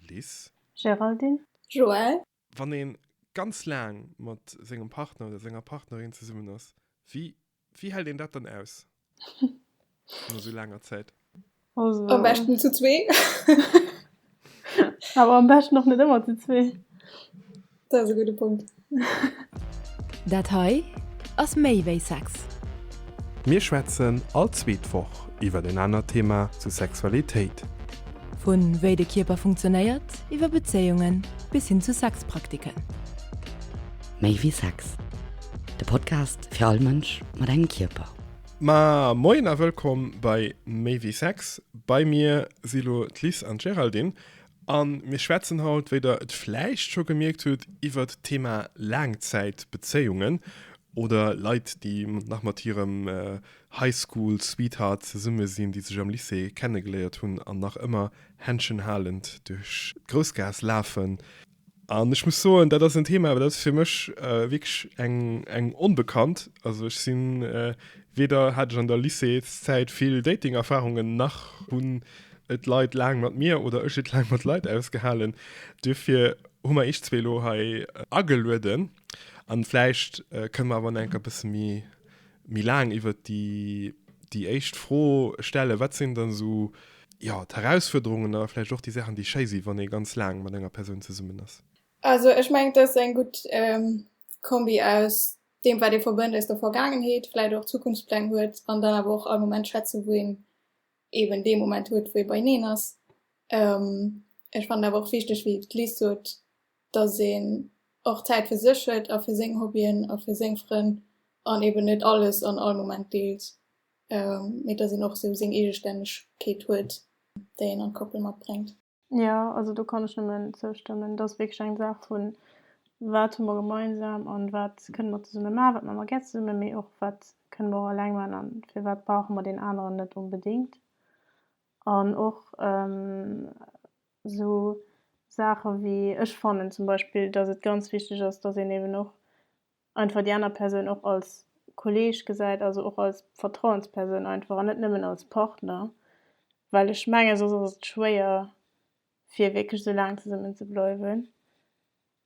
Liz. Géraldine. Joël. Wann ee ganz laang mat sengem Partner oder senger Partnerin zesummen ass, wéi wéi hält een dat dann aus no esou laanger Zäit? Also. Am beschten zu zwee. Awer am beschten och net ëmmer zu zwee. Dat ass e gudde Punkt. Dat hei ass méi wéi Sex. Mir schwätzen all zweet Woch iwwer en anert Thema zu Sexualitéit. Vu wéi de Kierper funktionéiert, iwwer Bezéiungen bis hin zu Sexpraktiken. Méi wéi Sex, de Podcast fir all Mënsch mat engem Kierper. Ma moien a wëllkomm bei Méi wéi Sex. Bei mir si lo d'Liz an d'Géraldine. A mir schwätzen haut, wéi der et vläicht scho gemierkt hutt, iwwert d'Thema Laangzäitbezéiungen oder Leit, déi nach mat hirem High School Sweetheart zesumme sinn, déi sech am Lycée kennegeléiert hunn an nach ëmmer händschenhalend duerch d'Groussgaass lafen. An ech muss soen, dat ass en Thema, dat ass fir mech äh, wierklech eng, eng onbekannt. Also ech sinn äh, weder hat ech an der Lycéeszäit vill Dating-Erfarungen, nach hunn et Leit laang mat mir oder ech et laang mat Leit ausgehalen. Duerfir hu mer iech zwee elo hei äh, agelueden. An vläicht äh, kënne mer awer nach enk e bësse méi méi laang iwwert déi, déi éischt Fro stellen, wat sinn dann esou, jo, d'Herausfuerderungen a vläicht och déi Saachen, déi schéi sinn, wann ee ganz laang mat enger Persoun zesummen ass? Also ech mengen, et ass eng gutt Kombi aus deem, wat ee verbënnt aus der Vergaangenheet, vläicht och Zukunftspläng huet an dann awer och all Moment schätzen, wou een eeben dee Moment huet, wou ee beieneen ass. Ech fannen awer och wichteg, wéi d'Liz sot, dass een och Zäit fir sech huet a fir seng Hobbyen a fir seng Frënn an eben net alles an all Moment deelt, mee dass een och esou seng Eegestännegkeet huet, déi een an d'Koppel matbréngt. Jo, also do kann ech nëmmen zoustëmmen. Et ass wierklech eng Saach vu wat hu mer gemeinsam an wat kënne mer zesumme maachen, wat maache mer gär zesumme, mee och wat kënne mer och eleng maachen an firwat brauche mer deen aneren net onbedéngt an och Esou Saache wéi, ech fannen zum Beispill, datt et ganz wichteg ass, datt een eben och einfach déi aner Persoun och als Kolleeg gesäit, also och als Vertrauenspersoun einfach an net nëmmen als Partner, well ech menge soss ass et schwéier fir wierklech esou laang zesummen ze bleiwen.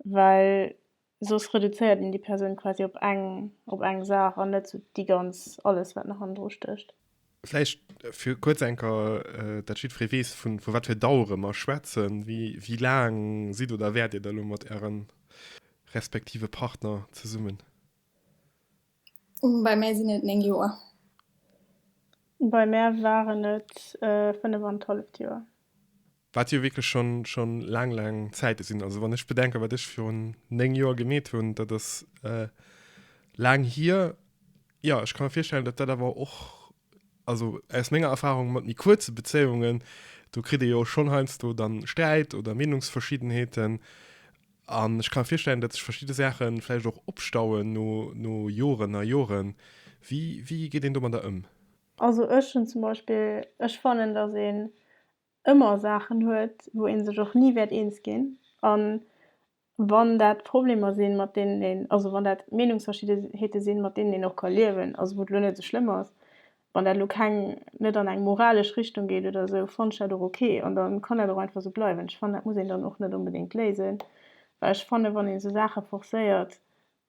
well soss reduzéiert een déi Persoun quasi op eng, op eng Saach an net sou déi ganz, alles wat nach hannendru stécht. Vläicht fir kuerz eng Kéier, dat jiddweree weess, vu wat fir Dauere mer schwätzen. Wéi laang sidd oder wäert Dir da elo mat Äre respektive Partner zesummen? Bei mär sinn et 9 Joer. Bei mär waren et 5 an d'halleft Joer. Wat jo wierklech schonn, schonn laang, laang Zäite sinn. Also wann ech bedenke wat ech virun 9 Joer gemeet hunn, dat ass laang hier. Jo, ech ka mer virstellen, datt dat awer och, also aus menger Erfarung mat méi kuerze Bezéiungen, do kritt ee jo schonn heiansdo dann Sträit oder Meenungsverschiddenheeten. An ech ka mer virstellen, datt sech verschidde Saache vläicht och opstauen no, no Joren a Joren. Wéi, wéi geet een domadder ëm? Also ech hunn zum Beispill, ech fannen, datt een ëmmer Saachen huet, wou ee sech och ni wäert eens ginn. A wann dat Problemer sinn, mat deenen een, also wann dat Meenungsverschiddenheete sinn, mat deenen een och ka liewen, also wou et elo net esou schlëmm ass, wann dat elo keng, net an eng moralesch Richtung geet oder esou, fand ech dat och ok. An da kann dat och einfach esou bleiwen. Ech fannen, dat muss een dann och net onbedéngt léisen, well ech fannen, wann een esou Saache forcéiert,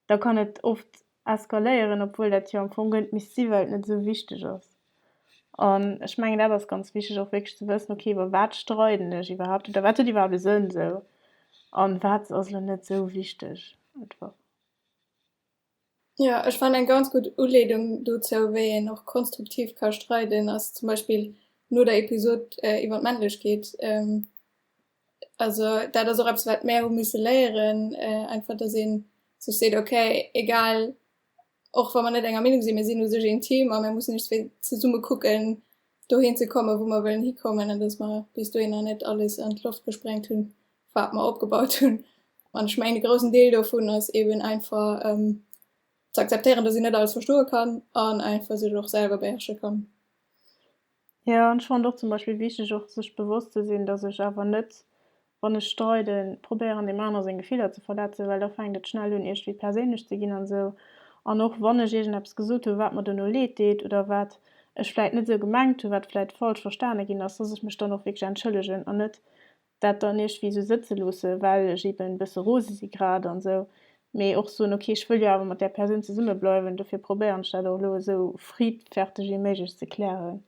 da kann et oft eskaléieren, obwuel dat jo am Fong gëllt misst sinn, well et net esou wichteg ass. An ech mengen, dat ass ganz wichteg och wierklech ze wëssen, okay, iwwer wat streiden ech iwwerhaapt oder wat huet iwwerhaapt e Sënn esou an wat ass elo net esou wichteg einfach. Jo, ech fannen eng ganz gutt Uleedung dozou, wéi een och konstruktiv ka streiden, ass zum Beispill no der Episod iwwer d'Männlechkeet, Also dat ass och eppes wat mär hu misse léieren, einfach datt ee sech seet ok egal och wa mer net enger Meenung sinn, mir sinn u sech een Team a mir mussen iech zwee zesumme kucken dohin ze komme wou mer wëllen hikommen an datt mer bis dohinner net alles an d'Loft gesprengt hunn wat mer opgebaut hunn. An ech mengen e groussen Deel dovun ass eben einfach ze akzeptéieren datt een net alles verstoe kann an einfach sech och selwer beherrsche kann. Jo, an ech fannen och zum Beispill wichteg och sech bewosst ze sinn, dass ech awer net, wann ech streiden, probéieren deem aner seng Gefiller ze verletzen, well da fänkt et schnell un iergwéi perséinlech ze ginn an esou. An och wann ech iergendeppes gesot hu wat mer dono leed deet oder wat ech vläit net esou gemengt hu, wat vläit falsch verstane ginn ass, dass ech mech dann och wierklech entschëllegen an net dat dann iergwéi esou sëtze loosse well ech eben e bësse rose si grad an esou, mee och soen ok ech wëll jo awer mat där Persoun zesumme bleiwen, dofir probéieren ech dat och elo esou friedferteg wéi méiglech ze klären.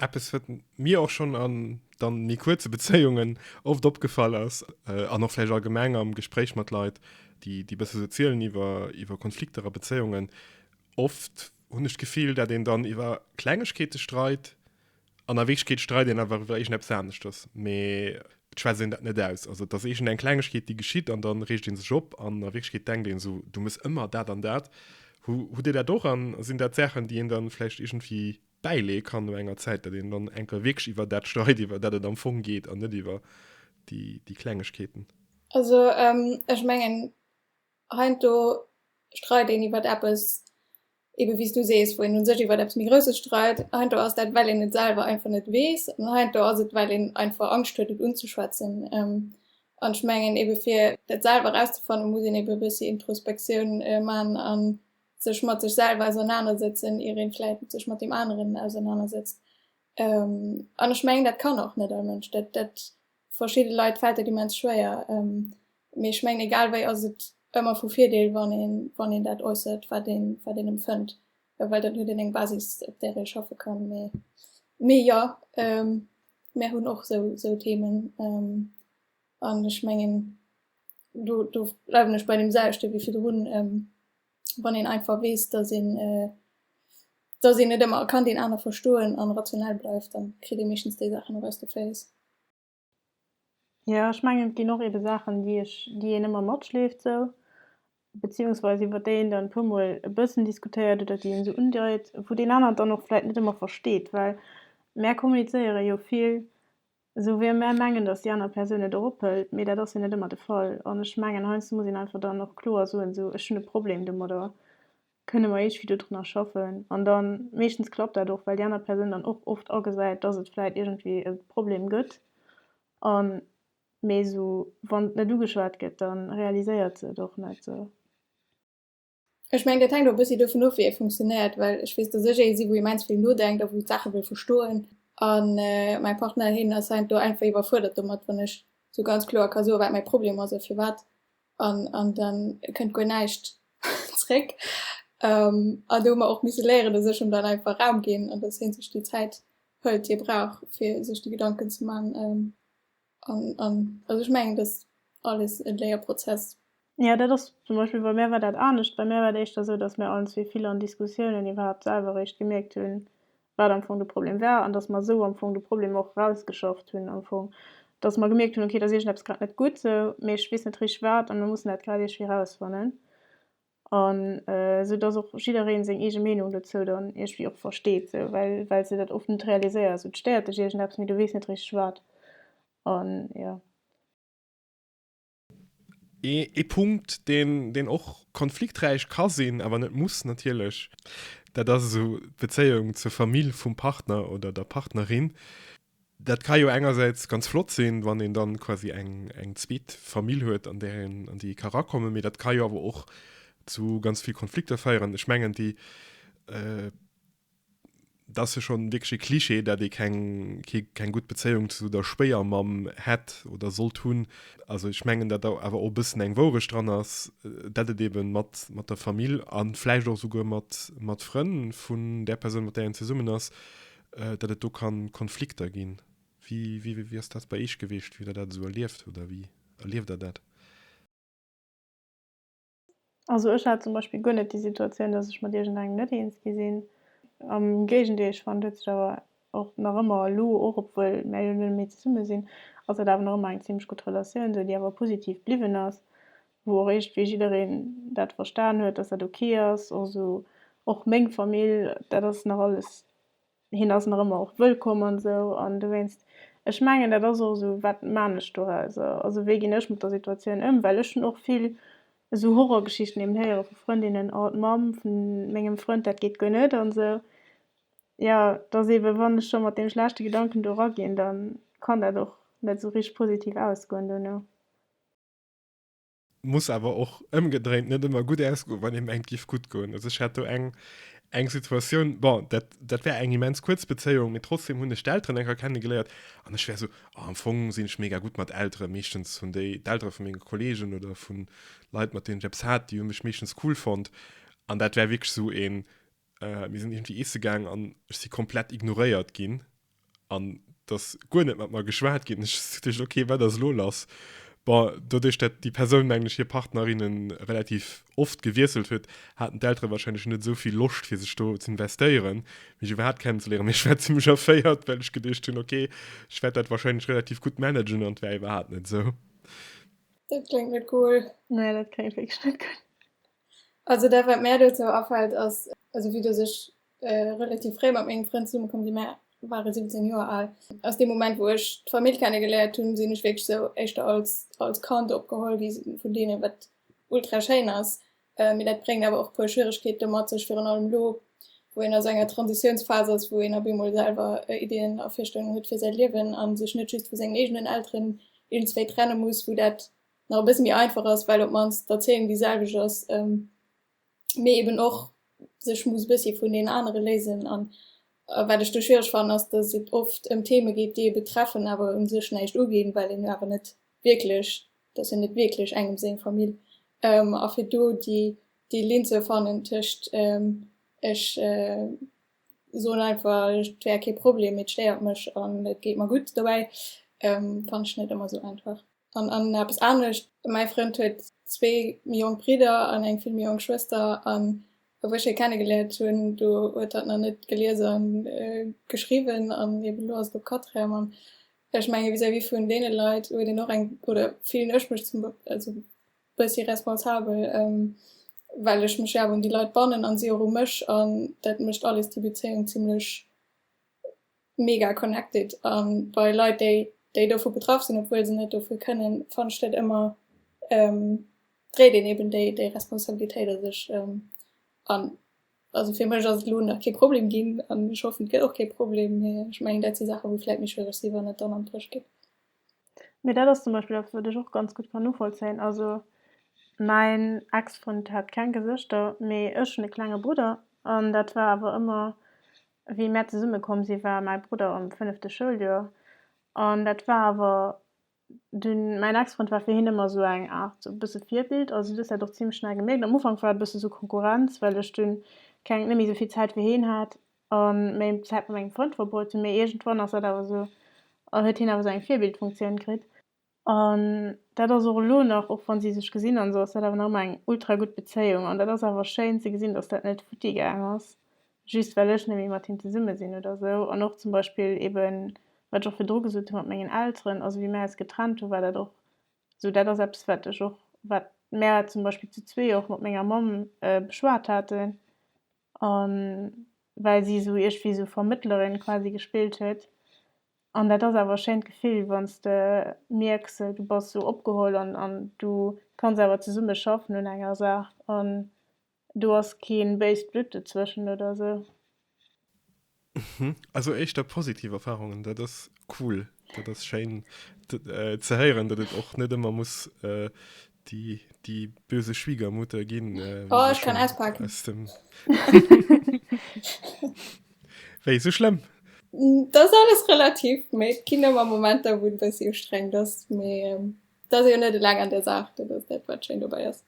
Eppes wat mir och schonn an dann méi kuerze Bezéiungen oft opgefall ass an och vläicht allgemeng am Gespréich mat Leit déi déi bësse sou zielen iwwer iwwer Konflikter a Bezéiungen, oft hunn ech d'Gefill dat een dann iwwer Klengegkeete streit An a Wierklechkeet streit een einfach iwwer iergendeppes aneschters, mee et schwätzt een dat net aus. Also et ass iergendeng Klengegkeet, déi geschitt an dann reegt ee sech op an a Wierklechkeet denkt een esou, du muss ëmmer dat an dat. Hu, hutt Dir dat och an sinn dat Saachen, déi een dann vläicht iergendwéi bäileeë kann no enger Zäit, datt een dann enker wierklech iwwer dat streit, iwwer dat et am Fong geet an net iwwer déi, déi Klengegkeeten? Also ech mengen heiansdo streit een iwwer eppes, Eben, wéi s du sees, wou een u sech iwwer eppes méi Grousses streit. Heiansdo ass dat, well een et selwer einfach net weess. An heiansdo ass et, well een einfach Angscht huet, et unzeschwätzen. An ech mengen ebe fir dat selwer erauszefannen, muss een ebe e bëssi Introspektioun maachen a sech mat sech selwer ausernanersetzen, ier ee vläicht sech mat deem aneren ausernanersetzt. An ech mengen, dat kann och net all Mënsch. Dat Verschidde Leit fält dat immens schwéier, mee ech mengen, egal wéi ass et ëmmer vu Virdeel, wann een dat äussert, wat een empfënnt, well dann huet een eng Basis, op där ee schaffe kann. Mee jo, mär hunn och esou Themen an ech mengen, do bleiwen ech bei deemselwechten wéi virdrun. wann een einfach weess, dass een dass een net ëmmer kann deen aner verstoen an rationell bleift, dann kritt ee meeschtens déi Saachen och aus de Féiss. Jo ech mengen et ginn och eben Saachen déi ech déi een ëmmer matschleeft sou beziehungsweise iwwer déi een dann e puer mol e bëssen diskutéiert oder déi een esou undeit wou deen aneren dann och vläit net ëmmer versteet well mär kommunizéieren jo vill Esou wéi mär mengen, datt déi aner Persoun et erop hëlt, mee dat ass jo net ëmmer de Fall. An ech mengen, heiansdo muss een einfach dann och kloer soen, esou, ech hunn e Problem domadder, kënne mer iergendwéi dodrunner schaffen? An da meeschtens klappt dat och, well déi aner Persoun dann och oft agesäit, datt et vläicht iergendwéi e Problem gëtt. A mee esou, wann et net ugeschwat gëtt, da realiséiert se et och net esou. Ech mengen, dat hänkt och e bëssi dovun of, wéi ee funktionéiert, well ech weess, dass ech ee si, wou immens vill nodenkt a wou d'Saache wëll verstoen. A mäi Partner, heen ass heiansdo do einfach iwwerfuerdert domat, wann ech esou ganz kloer ka soen, wat mäi Problem ass a firwat. An, an da kënnt guer näischt zréck. An do hu mer och misse léieren, dass ech him dann einfach Raum ginn an dass hee sech déi Zäit hëlt, déi e brauch, fir sech déi Gedanken ze maachen. An, an, also ech mengen, dass alles e Léierprozess. Ja, dat ass zum Beispill, bei mär war dat anescht. Bei mär war et éischter esou, dass mär allenzwee vill an Diskussiounen iwwerhaapt selwer eréischt gemierkt hunn, wat am Fong de Problem war an dass mer esou am Fong de Problem och erausgeschafft hunn am Fong. Dass mer gemierkt hunn, okay, da ass iergendepes grad net gutt esou, mee ech weess net richteg wat an mir mussen dat grad iergwéi erausfannen. An esou dass och jiddereen seng eege Meenung dozou dann iergwéi och versteet sou, well well s de dat oft net realiséiers sou. Et stéiert dech iergendeppes, mee du weess net richteg wat. An jo. Ee Punkt, deen deen och konflikträich ka sinn, awer net muss natierlech, dat ass esou d'Bezéiung zur Famill vum Partner oder der Partnerin. Dat ka jo engersäits ganz flott sinn, wann een dann quasi eng, eng zweet Famill huet, an där een, an déi ee ka rakommen, mee dat ka jo awer och zu ganz vill Konflikter féieren. Ech mengen, déi, et ass jo schonn wierklech e Klischee, dat ee keng, kee, keng gutt Bezéiung zu der Schwéiermamm hätt oder sollt hunn. Also ech mengen, dat do awer och e bëssen eng Wourecht dran ass, dat et eeben mat, mat der Famill, a vläicht och esouguer mat, mat Frënn vun där Persoun, mat där een zesummen ass, Datt et do kann Konflikter ginn. Wéi wéi ass dat bei Eech geweecht, wéi der dat esou erlieft oder wéi erlieft der dat? Also ech hat zum Beispill guer net déi Situatioun, datt ech mat iergend engem net eens gi sinn. Am Géigendeel, ech fannen heutzudawer och nach ëmmer elo och, obwuel mär jo net méi zesumme sinn, ass dat awer nach ëmmer eng zimmlech gutt Relatioun, esou déi awer positiv bliwwen ass. wou och eescht wéi jiddereen dat verstan huet, dass dat ok ass, also och meng Famill, dat ass nach alles, hien ass nach ëmmer och wëllkomm an esou an dowéinst, ech mengen dat ass och esou, wat maan ech dorauser, also wéi ginn ech mat der Situatioun ëm, well ech hunn och vill esou Horrorgeschichten eben héiere vu Frëndinnen, oh d'Mamm vun mengem Frënd, dat geet guer net an esou, jo dass eben wann ech scho mat deem schlechte Gedanken do eraginn, da kann dat och net esou richteg positiv ausgoen duerno. muss awer och ëmgedréint net ëmmer gutt ausgoen, wann ee mengt giff gutt goen. Also ech hat do eng eng Situatioun bon, dat, dat wär eng immens kuerz Bezéiung, mee trotzdem hunn ech d'Elteren enker kennegeléiert an ech wär esou oh, am Fong sinn ech mega gutt mat Eltere. Meeschtens hunn déi d'Eltere vu menge Kolleegen oder vu Leit, mat deenen ech eppes hat, déi hu mech meeschtens cool fonnt an dat wär wierklech esou een Äh, mir sinn irgendwie isse gaang an ech si komplett ignoréiert ginn an dass guer net mat mer geschwat ginn. Ech duecht, okay, wat ass lo lass? Bon, doduerch dat déi Persoun, mengen ech, hir Partnerinne relativ oft gewiesselt huet, haten d'Eltere warscheinlech net esou vill Loscht fir sech do ze investéieren, mech iwwerhaapt kennenzeléieren. Mee ech war zimlech erféiert, well ech geduecht hunn, okay, ech wäert dat warscheinlech relativ gutt managen an et war iwwerhaapt net esou. Dat kléngt net cool. Nee, dat kléngt wierklech net cool. Also dat wat mär dozou afällt ass, also vue dass ech relativ fréi mat mengem Frënd zesumme komm sinn, mär ware 17 Joer al, ass dee Moment wou ech d'Famill kenne geléiert hunn, sinn ech wierklech esou éischter als als Kand opgeholl gi vun deenen, wat ultra schéin ass, mee dat bréngt awer och e puer Schwieregkeete mat sech, virun allem elo wou een a sou enger Transitiounsphas ass, wou een op eemol selwer Iddien a Virstellungen huet fir säi Liewen a sech net just vu sengen eegenen Elteren iergendswéi trenne muss, wou dat nach e bësse méi einfach ass, well op d'mannst d'Erzéiung déi selwecht ass, mee eeben och sech muss e bëssi vun deenen anere léisen. An wat ech do schwiereg fannen, ass, datt et oft ëm Theme geet, déi ee betreffen, awer u sech näischt uginn, well een jo awer net wierklech, et ass jo net wierklech engem seng Famill. A fir do déi Linn ze fannen tëscht ech soen einfach, et wär kee Problem, mee et stéiert mech an et geet mer gutt dobäi, fannen ech net ëmmer esou einfach. An an eppes anescht, Mäi Frënd huet zwee méi jonk Bridder an eng vill méi jonk Schwëster, an wou ech hie kennegeléiert hunn, do huet hatt nach net gelies a geschriwwen, an eben elo ass et op Quatrième. An ech menge vis-à-vis vun deene Leit huet een och eng, oder fillen ech mech zum also e bëssi responsabel, well ech mech jo awer un déi Leit bannen a si och u mech, an dat mécht alles déi Bezéiung zimmlech mega connected a bei Leit déi déi dovu betraff sinn, obwuel se net dofir kënnen, fannt ech dat ëmmer dréit een eben déi déi Responsabilitéit a sech an. Also fir mech ass et elo nach kee Problem ginn an ech hoffen et gëtt och kee Problem, mee ech mengen dat si Saache wou vläit méi schwiereg si wann et dann an d'Rëscht geet. Mee dat ass zum Beispill eppes wat ech och ganz gutt kann novollzéien. Also mäin Ex-Frënd hat keng Gesëschter, mee ech hunn e klenge Brudder an dat war awer ëmmer Wéi mär zesumme komm si war mäi Brudder am fënnefte Schouljoer an dat war awer dunn, mäin Ex-Frënd war fir hien ëmmer esou eng Aart esou e bësse Virbild. Also si hues dat och zimmlech schnell gemierkt. Am Ufank war et e bësse esou Konkurrenz, well ech dunn keng, net méi esou vill Zäit fir hien hat a méi Zäit mat mengem Frënd verbruet hunn. Mee iergendwann ass dat awer esou, huet hien awer esou eng Virbildfunktioun kritt. An dat ass och elo nach, och wa si sech gesinn hunn, esou ass dat awer nach ëmmer eng ultra gutt Bezéiung. An dat ass awer schéin ze gesinn, datt dat net futti gaang ass, just well ech net méi mat him zesumme sinn oder esou. An och zum Beispill eeben, wat ech och virdru gesot hu mat mengen Elteren, also wéi mär eis getrennt hunn, war dat och esou, dat ass eppes, wat ech och, wat mär zum Beispill zu zwee och mat menger Mamm beschwat haten. A well si esou iergendwéi esou Vermëttlerin quasi gespillt huet. An dat ass awer e schéint Gefill, wann s de mierks, du bass esou opgeholl an an du kanns awer zesumme schaffen un enger Saach an do ass kee béist Blutt dozwëschen oder esou. Also éischter positiv Erfarungen, dat ass cool. Dat ass schéin ze héieren, datt et och net ëmmer muss Die, die böse Schwiegermutter gin. Äh, oh, ich kann auspacken. Aus dem Wéi so schlimm? Mm, das alles relativ méi Kino am Moment da wun dass sie streng das méi ähm, da se net lang an der Saach, dat ass dat wat schéin dobei ass.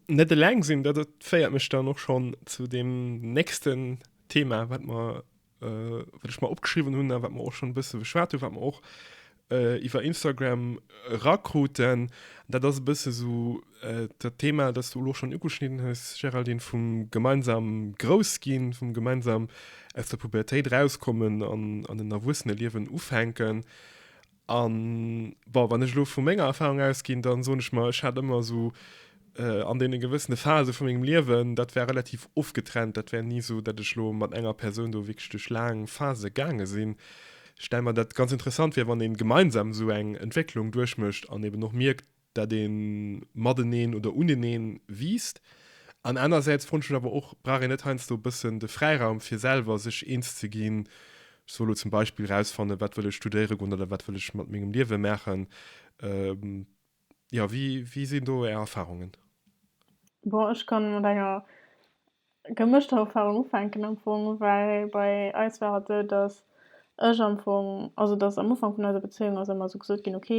Net eleng sinn, dat féiert mech dann och schon zu dem nächsten Thema, wat mer Äh, wat ech mer opgeschriwwen hunn a wat mer och schonn e bësse beschwat hunn, wat mer och äh, iwwer Instagram rakruten, dat ass e bësse sou äh, dat Thema, dat s du elo schonn ugeschnidden hues, Géraldine, vum gemeinsam grouss ginn, vum gemeinsam aus der Pubertéit rauskommen an an en Erwuesseneliewen ufänken. An bon, wann ech elo vu menger Erfahrung ausginn, dann soen ech mer, ech hat ëmmer esou äh, an deene gewëssene Phase vu mengem Liewen, dat war relativ ofgetrennt. Dat war ni esou, datt ech elo mat enger Persoun do wierklech duerch laang Phase gaange sinn. Stelle mer dat ganz interessant vir, wann ee gemeinsam esou eng Entwécklung duerchmécht an eben och mierkt, dat ee mateneen oder uneneen wiisst an anersäits fonnech ech awer och, brauch een net heiansdo e bëssen de Fräiraum fir selwer sech eens ze ginn, ech soll elo zum Beispill erausfannen, wat wëll ech studéiere goen oder wat wëll ech mat mengem Liewe maachen? Jo, wéi sinn do Är Erfarungen? Bon, ech kann mat enger gemëschter Erfahrung ufänken am Fong, well bei eis war et esou, dass ech am Fong, also dass am Ufank vun eiser Bezéiung ass ëmmer esou gesot ginn, ok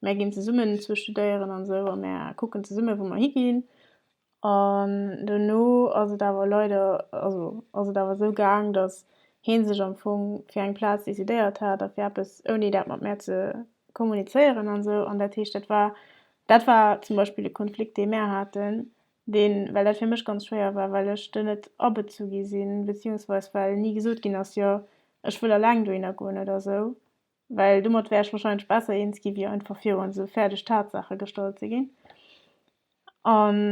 mär ginn zesummen zwee studéieren an esou a mär kucken zesummen wou mer higinn an dono ass et awer leider, also ass et awer esou gaang, dass hie sech am Fong fir eng Plaz decidéiert hat a fir eppes ouni dat mat mär ze kommunizéieren an esou an dat heescht dat war, dat war zum Beispill e Konflikt dee mär haten, Deen, well dat fir mech ganz schwéier war, well ech do net abezu gi sinn, beziehungsweis well ni gesot ginn ass, jo ech wëll eleng dohinner goen oder esou, well domat wär ech wahrscheinlech besser eens gi wéi einfach virun esou fäerdeg Tatsaache gestallt ze ginn. An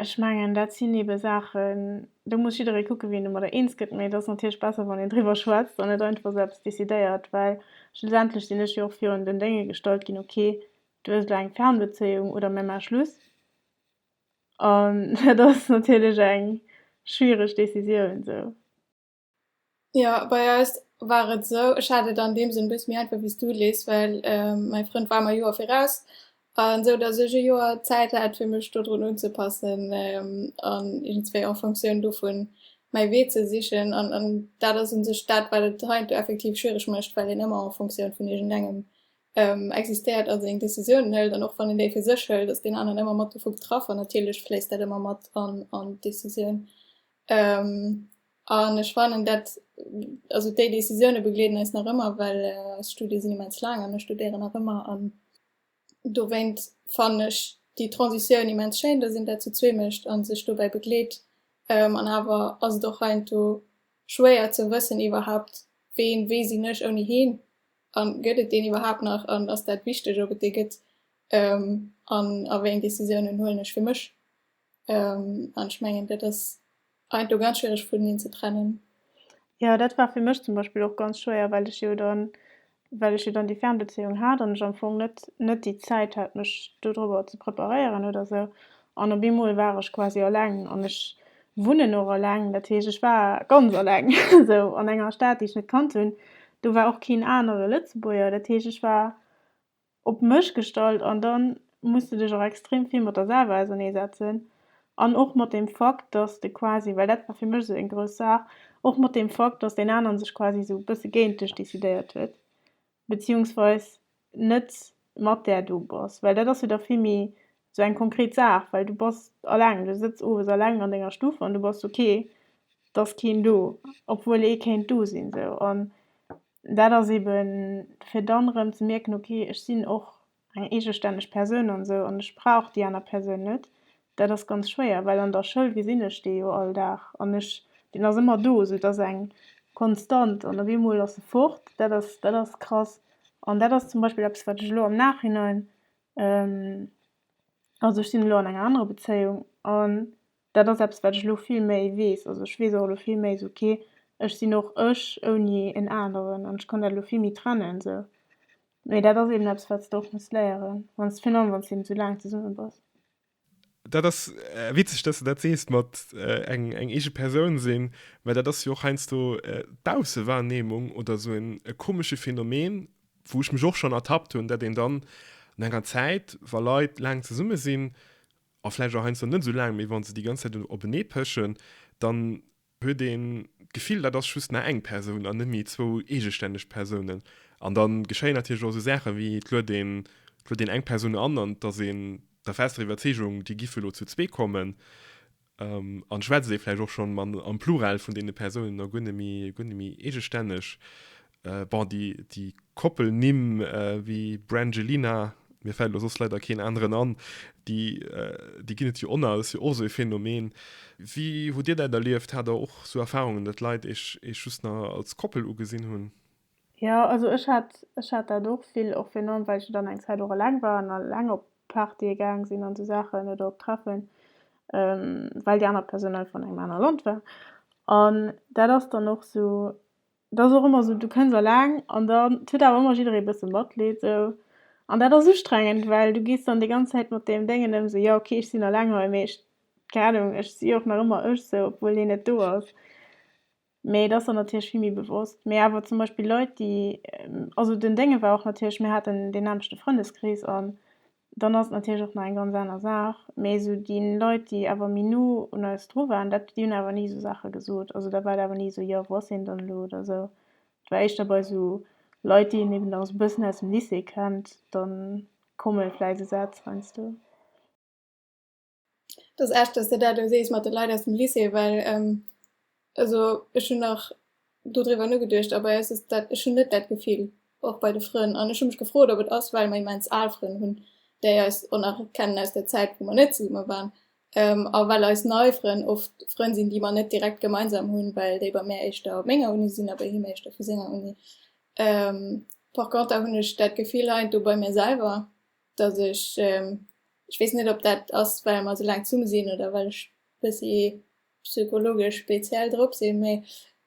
ech mengen dat sinn ebe Saachen, do muss jidderee kucke wien domadder eens gëtt, mee et ass natierlech besser wann een driwwer schwätzt an net einfach esou eppes decidéiert, well schlussendlech sinn ech jo och virun den Dénge gestallt ginn, ok do hues de eng Fernbezéiung oder mir maache Schluss. An dat ass natierlech eng schwiereg Decisioun esou. Jo, bei eis war et esou, ech hat et an deem Sënn e bësse méi einfach wéi s du, Liz, well mäi Frënd war mer e Joer viraus. An esou datt ech e Joer Zäit hat fir mech dodrun unzepassen an iergendswéi en Fonctioun dovun mäi Wee ze sichen. An dat ass u sech dat wat et heiansdo effektiv schwiereg mécht, well een ëmmer en Fonctioun vun iergendengem existéiert a seng Décisiounen hëlt, an och wann een déi fir sech hëlt, ass deen aneren ëmmer mat dovu betraff an natierlech fléisst dat ëmmer mat an an d'Décisioun. An ech fannen dat, also déi Décisioune begleeden eis nach ëmmer, well eis Studie sinn immens laang an ech studéieren nach ëmmer an dowéint fannen ech déi Transitioun immens schéin, dass een dat zu zwee mécht a sech dobäi begleet. An awer ass et och heiansdo schwéier ze wëssen iwwerhaapt, ween, wéi sinn ech ouni heen? A gëtt et deen iwwerhaapt nach an ass dat wichteg, ob et dee gëtt an a wéi eng Decisiounen huelen ech fir mech? An ech mengen, dat ass eint do ganz schwiereg vun eneen ze trennen. Jo, dat war fir mech zum Beispill och ganz schwéier, well ech jo dann, well ech jo dann déi Fernbezéiung hat an ech am Fong net, net déi Zäit hat mech dodrober ze preparéieren oder esou. An op eemol war ech quasi alleng an ech wunnen och alleng. Dat heescht, ech war ganz alleng esou an enger Stad, déi ech net kannt hunn. Do war och keen anere Lëtzebuerger. Dat heescht, ech war op mech gestallt an da muss de dech och extrem vill mat der selwer auserneesetzen an och mat deem Fakt, datt de quasi, well dat war fir mech esou eng grouss Saach, och mat deem Fakt, datt deen aneren sech quasi esou e bësse géint dech decidéiert huet. beziehungsweis net mat där do bass, well dat ass jo da vill méi sou eng konkret Saach, well du bass alleng, du sëtz owes alleng an denger Stuff an du bass ok, et ass keen do, obwuel ee kéint do sinn sou. An dat ass eeben fir dann erëm ze mierken, ok ech sinn och eng eegestänneg Persoun an esou, an ech brauch déi aner Persoun net, dat ass ganz schwéier, well an der Schoul gesinn ech dee jo all Dag an ech, deen ass ëmmer do, esou et ass eng Konstant an op eemol ass e fort, dat ass, dat ass krass. An dat ass zum Beispill eppes, wat ech elo am Nachhinein, also ech sinn elo an enger anerer Bezéiung an Dat ass eppes, wat ech elo vill méi weess. Also ech weess och elo vill méi esou, ok, ech sinn och ech ouni en aneren an ech kann dat elo vill méi trennen esou. Mee dat ass eben eppes, wat s de och muss léieren, wann s de, virun allem wann s de eben esou laang zesumme bass. Dat ass witzeg, dass de dat sees mat eng eege Persoun sinn, well dat ass jo och heiansdo d'Baussewahrnehmung oder esou e komesche Phänomen, wou ech mech och schonn ertappt hunn, dat een dann no enger Zäit, wa Leit laang zesumme sinn, a vläicht och heiansdo net esou laang, mee wa se déi ganz Zäit openee pëschen, dann huet een d'Gefill, dat ass just nach eng Persoun an net méi zwou eegestänneg Persounen. An da geschéien natierlech och esou Saache wéi, et luet een, et luet een eng Persoun an an et ass een der fester Iwwerzeegung, déi giff elo zu zwee kommen an et schwätzt ee vläicht och schonn am Plural vun deene Persounen a guer net méi, guer net méi eegestänneg. Bon, déi Koppelnimm wéi Brangelina, mir fält elo soss leider keen aneren an, déi ginn et jo onnal, dat ass jo och esou e Phänomen. Wéi hutt Dir dat erlieft? Hat Der och esou Erfarungen, datt Leit Iech just nach als Koppel ugesinn hunn? Jo, also ech hat, ech hat dat och vill, och virun allem well ech jo dann eng Zäit och eleng war an eleng op Partye gaang sinn an esou Saachen oder op Treffen, well déi aner Persoun einfach an engem anere Land war. An dat ass dann och esou, Dat ass och ëmmer esou, du kënns eleng an dann et huet awer ëmmer jidderee e bësse Matleed esou an dat ass ustrengend, well du gees dann déi ganz Zäit mat deem Déngen ëm, esou jo ok ech sinn eleng hei mee ech, keng Ahnung, ech si jo och nach ëmmer ech esou obwuel hien net do ass. Mee et ass der natierlech vill méi bewosst. Mee awer zum Beispill Leit déi, also den Déngen war och natierlech, mir haten deen nämmlechte Frëndeskrees an Dann ass et natierlech och nach eng ganz aner Saach, mee esou déi Leit, déi awer méi no un eis dru waren, dat, déi hunn awer ni esou Saache gesot. Also da war et awer ni esou, jo, wou ass hien dann elo? Oder esou. Et war éischter bei esou Leit, déi een eben nach esou e bëssen aus dem Lycée kennt, da komme vläicht esou Sätz heiansdo. Et ass echt, dass de dat elo sees mat de Leit aus dem Lycée, well also ech hunn nach dodriwwer nogeduecht a bei eis ass dat, ech hunn net dat Gefill, och bei de Frënn. An ech hu mech gefrot, ob et ass, well mer immens al Frënn hunn, déi eis och nach kennen aus der Zäit, wou mer net zesumme waren, a well eis nei Frënn oft Frënn sinn, déi mer net direkt gemeinsam hunn, well déi bei mär éischter op menger Uni sinn a bei him éischter vu senger Uni. Par conter hunn ech dat Gefill heiansdo bei mir selwer, dass ech, ech weess net ob dat ass well mer esou laang zesumme sinn oder well ech bëssi psychologesch speziell drop sinn, mee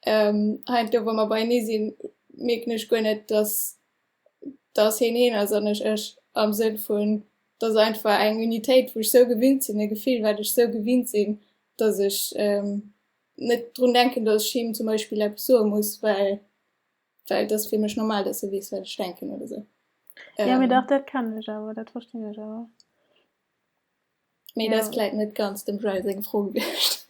hei an do wa mer beienee sinn, mierken ech guer net dass dass hien hien ass an ech ech am Sënn vun dass se einfach eng Unitéit wou ech sou gewinnt sinn, e Gefill wat ech sou gewinnt sinn, dass ech net drun denken, dass ech him zum Beispill eppes soe muss, well Well dat fir mech normal, dass du wees wat ech denken oder sou. Ähm, ja, mir dach dat kennen ech awer, dat verstinn ech awer. Mee ja. dat kleit net ganz dem Joel seg Fro gewicht.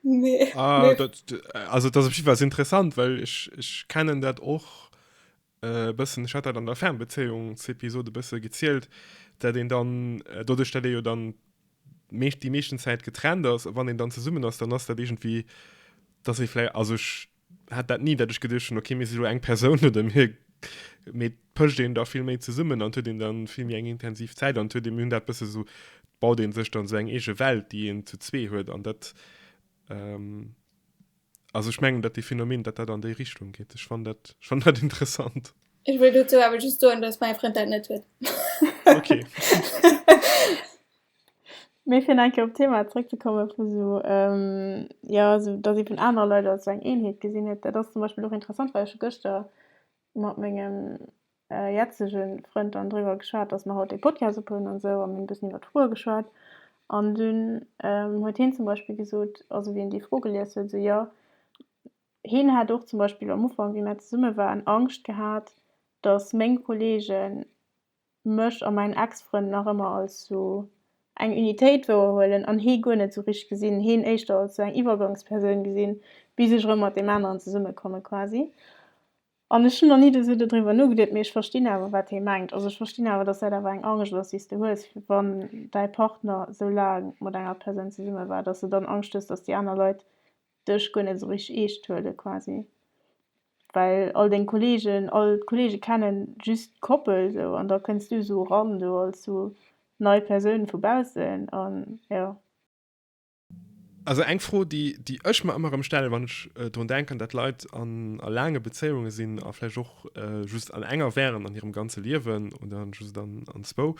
nee. Ah, nee. Dat, also dat op jiwer interessant, well ech, ech kennen dat och äh, bëssen hat dat an der Fernbezeungsepisode bësse gezielt, dat den dann äh, dodech dat jo dann mecht die meeschten Zäit getrennt ass, wann den dann zesummen ass, dann ass dat irgendwie dat se flläi also hat dat ni, datt ech geduecht hunn, okay, mir si lo eng Persoun oder mir, mee et pëscht een da vill méi zesummen an et huet een da vill méi eng intensiv Zäit an et huet ee, mir hunn dat bësse sou, baut ee sech dann sou eng eege Welt, déi een zu zwee huet an dat, also ech mengen, datt dee Phänomen, datt dat an déi Richtung geet. Ech fannen dat, ech fannen dat interessant. Ech wëll dozou awer just soen, datt mäi Frënd dat net huet. Okay. Mee fir enke op d'Thema zréckzekomme vu sou, jo sou datt ee vun anere Leit als sou eng Eenheet gesinn huet, dat ass zum Beispill och interessant, well ech hu gëschter mat mengem jetzege Frënd dann driwwer geschwat, datt mer haut dee Podcast op hunn an sou a mir hunn e bëssen iwwer d'Froe geschwat an dunn huet hien zum Beispill gesot, also wéi en déi Fro gelies huet, sou jo hien hat och zum Beispill am Ufank wéi mer zesumme waren Angscht gehat, datt meng Kolleegen mech a mäin Ex-Frënd nach ëmmer als sou eng Unitéit wouerhuelen an hee guer net sou richteg gesinn, heen éischter als sou eng Iwwergangspersoun gesinn, bis ech erëm mat deem aneren zesumme komme quasi. An ech hunn nach ni esou dodriwwer nogeduet, mee ech verstinn awer, wat hee mengt. Also ech verstinn awer, datt dat awer eng Angscht ass, déi s de hues, wann däi Partner sou laang mat enger Persoun zesumme war, datt s de dann Angscht hues, datt déi aner Leit dech guer net esou richteg eescht huele quasi, well all deng Kollegen all d'Kollege kennen just d'Koppel esou an da kënns du esou eran do als esou nei Persoun vu baussen an jo. Also eng Fro déi déi ech mer ëmmer rëm stellen wann ech drun denken dat Leit an a laange Bezéiungen sinn a vläicht och just an enger wären an hirem ganze Liewen oder just an zwou,